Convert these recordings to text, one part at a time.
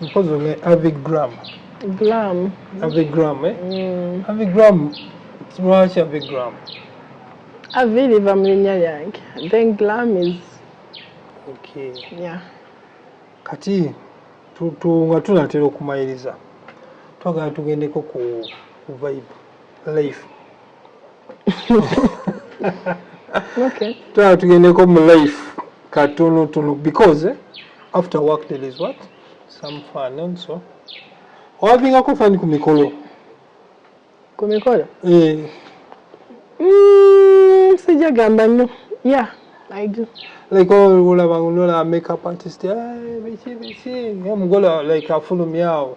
mpozi ne avigram gram avigram eh? mm. avigram lwaki avigram avi liva mu linnya lyange then gram is okay. yeah. kati nga tunatera okumayiriza twagala tugendeko ku vibe life okay. Try to get a life cartoon to look because eh, after work there is what some fun and so. Wabinga ko fun ku mikolo. Ku mikolo? Eh. Mm, sija gamba no. Yeah, I do. Like all oh, wala bangulola makeup artist. Eh, bichi bichi. Mgola like afulu miao.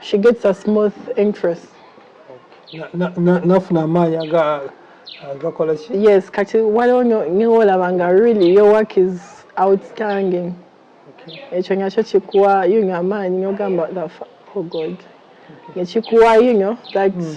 she gets a smooth interest nafuna amaanyi agakola ki yes kati waliwo newolaba nga really your work is outstanding ekyo nakyo kikuwa yunyo amaanyi nogamba oh god nekikuwa yunyo that mm.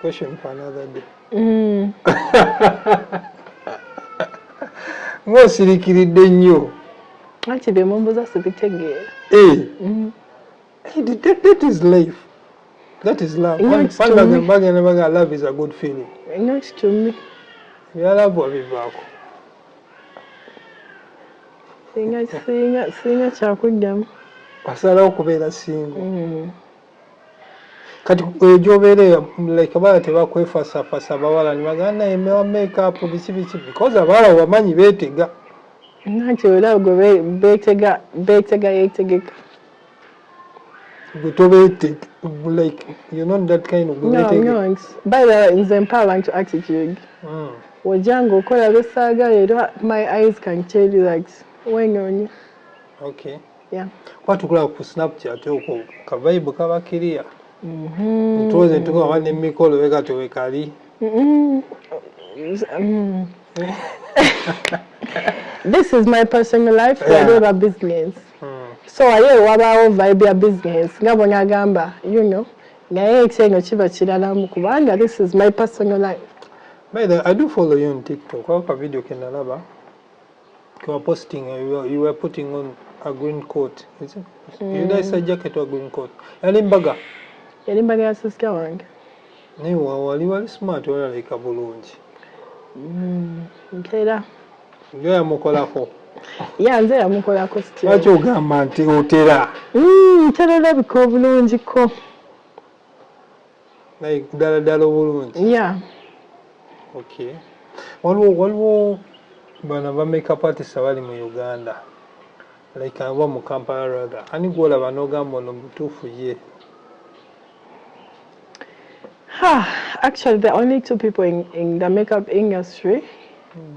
question for another day mm. ng'osirikiridde nnyo anti bye mumbuza sibitegeera eh. mm. that is life that is love bagenda baga love is a good feeling ebyalavu abivaako singa singa singa kyakuddamu asalawo okubeera singo mm. kati eyo gyobeera like abawala tebakwefasafasa abawala nibagaa naye mewa makeup biki biki because abawala wamanyi betega nanti olaba gwe betega betega yetegeka gwe tobetega like you know that kind of no, no, by the way nze mpa abantu attitude mm. wojanga okola besaagala era my eyes can tell you that wenoonya okay yeah. kuba tukulaba ku snapchat okwo kavaibu kaba kiriya mm-hmm. ntuwoze ntukuba nemikolo weka tewekali mm-hmm. mm-hmm. this is my personal life yeah. whatever business hmm. so aye wabaawo vibe ya business nga bona agamba you know naye ekyeno kiba kiralamu kubanga this is my personal life by the i do follow you on tiktok ako ka video kenalaba You were posting, uh, you were, you were putting on a green coat. Is it? Mm. You guys a jacket or green coat. Yali mbaga. Yali mbaga ya sister wange. Naye wali wali smart wali alabika bulungi. Mm, ntera. Ndio yamukolako. Ya nze yamukolako sitya. Lwaki ogamba nti otera? Mm, ntera olabika obulungi ko. like ddala ddala obulungi ya okay waliwo waliwo bano ba makeup artist abali mu uganda like aba mu kampala rather ani gwolaba n'ogamba ono mutuufu ye actually the only two people in, in the makeup industry mm.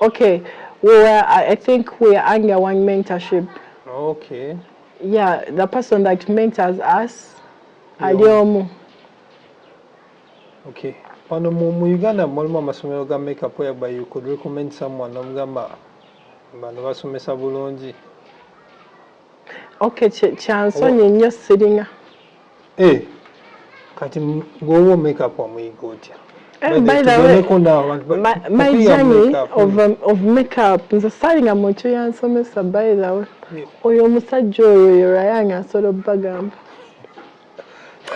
Okay, we were, I I think we are under one mentorship. Okay. Yeah, the person that mentors us, ali Yo. omu. Okay. Wano mu, mu Uganda mulimu amasomero ga makeup whereby you could recommend someone omugamba bano basomesa bulungi Okay, kyansonyi nnyo sirina. Eh, kati gwowa omekeup omuyiga otya? Eh, by the way, my, my journey of, um, of makeup nze salinga muntu yansomesa by the way oyo omusajja oyo yorayanga asobola obagamba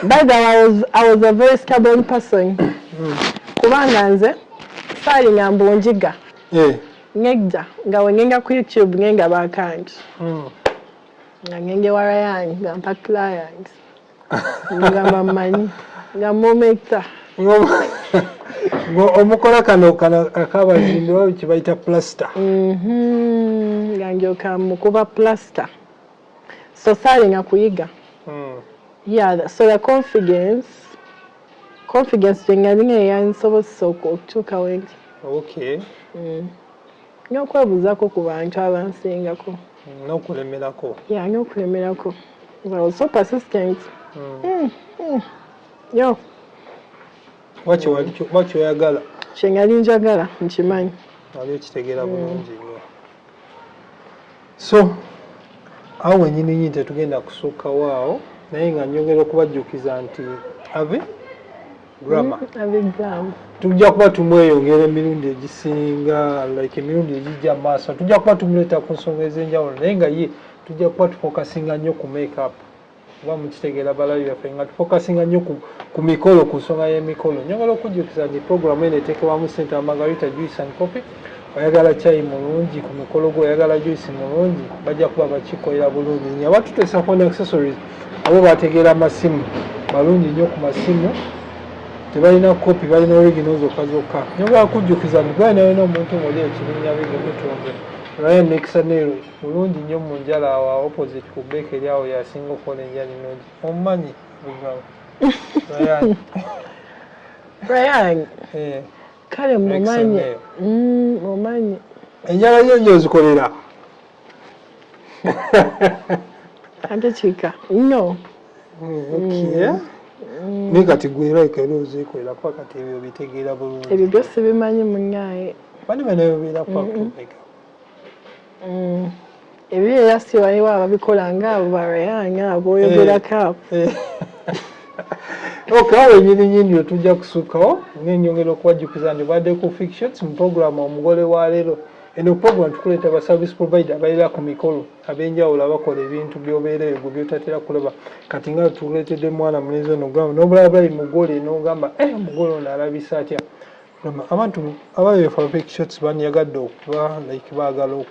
By the way, I was, I was a very stubborn person. Hmm. Kubanga nze saalinga mbu njiga. Eh. Ngejja nga wengenga ku YouTube ngenga bakangi. Hmm. Nga ngenge wara yange nga mpa client. Nga mamanyi. Nga mometa. omukola kano kano akabazimbi bakibayita plaster. Mhm. Nga njoka mukuba plaster. so saalinga kuyiga hmm. yeah so the confidence confidence gye nga ninga yansobozesa okutuuka wendi okay hmm. n'okwebuuzako ku bantu abansingako n'okulemerako ya n'okulemerako well so persistent hmm. yo wakyoyagala kyengali njagala nkimanyi ali okitegeera bulungi so awo wenyini nyini tetugenda kusukkawo awo naye nga nyongera okubajjukiza nti ave grammar mm, tujja kuba tumweyongera emirundi egisinga like emirundi egijja maaso tujja kuba tumuleeta ku nsonga ez'enjawulo naye nga ye tujja kuba tufokasinga nnyo ku makeup kuba mukitegera balabi baffe nga tufokasinga nnyo ku mikolo ku nsonga y'emikolo nyongala okujjukiza nti programu eno eteekebwamu sente wa margarita juice and coffee oyagala kyayi mulungi ku mikolo gwe oyagala juice mulungi bajja kuba bakikolera bulungi nyo abatuteesa phone accessories abo bategeera amasimu balungi nnyo ku masimu tebalina kopi balina origino zokka zokka nyongala kujjukiza nti gwanayona omuntu muli ekibinya bigemutunde ryan nekisa nero Mulungi nyo munjala awo a opposite ku bakery awo yasinga okola enjala enogi omumanyi Brian eh. kale mumanyi mumanyi mm, enjala yo nyo ozikolera ate kika no mm, mm. naye kati gwe era ikaera ozikolera kuba kati ebyo bitegeera bulungi ebyo byosibimanyi munyaye bani banayobeera kwakubega mm. ebyo era si waliwo ababikola nga abo barayanga aboyogerako abo eh, eh. okawo enyini nyini otujja kusukawo nenyongera okubajjukiza nti badde ku fictions mu programu omugole wa leero eno program tukuleeta ba service provider abaera ku mikolo abenjawulo abakola ebintu byobeera ebyo byotatera kulaba kati nga tuletedde mwana mulenzi ono gamba nobulabulayi mugole nogamba eh, mugole ono alabisa atya abantu ababefa big shots banyagadde okuba like baagala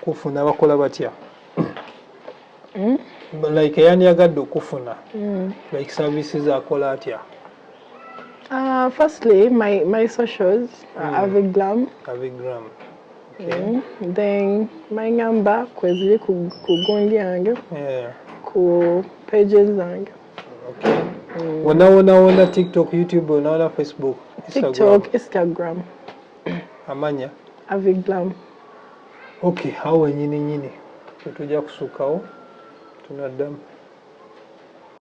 okufuna bakola batya hmm? like eyanyagadde okufuna hmm. like services akola atya Uh, firstly, my, my socials mm. are hmm. Avigram. Avigram. Okay. Mm. Then my number kwezili ku, ku gundi yange. Yeah. Ku pages zange. Mm. wona wona wona tiktok youtube wona wona facebook tiktok instagram amanya aviglam ok awo wenyini nyini tetujja kusukkawo tunaddamu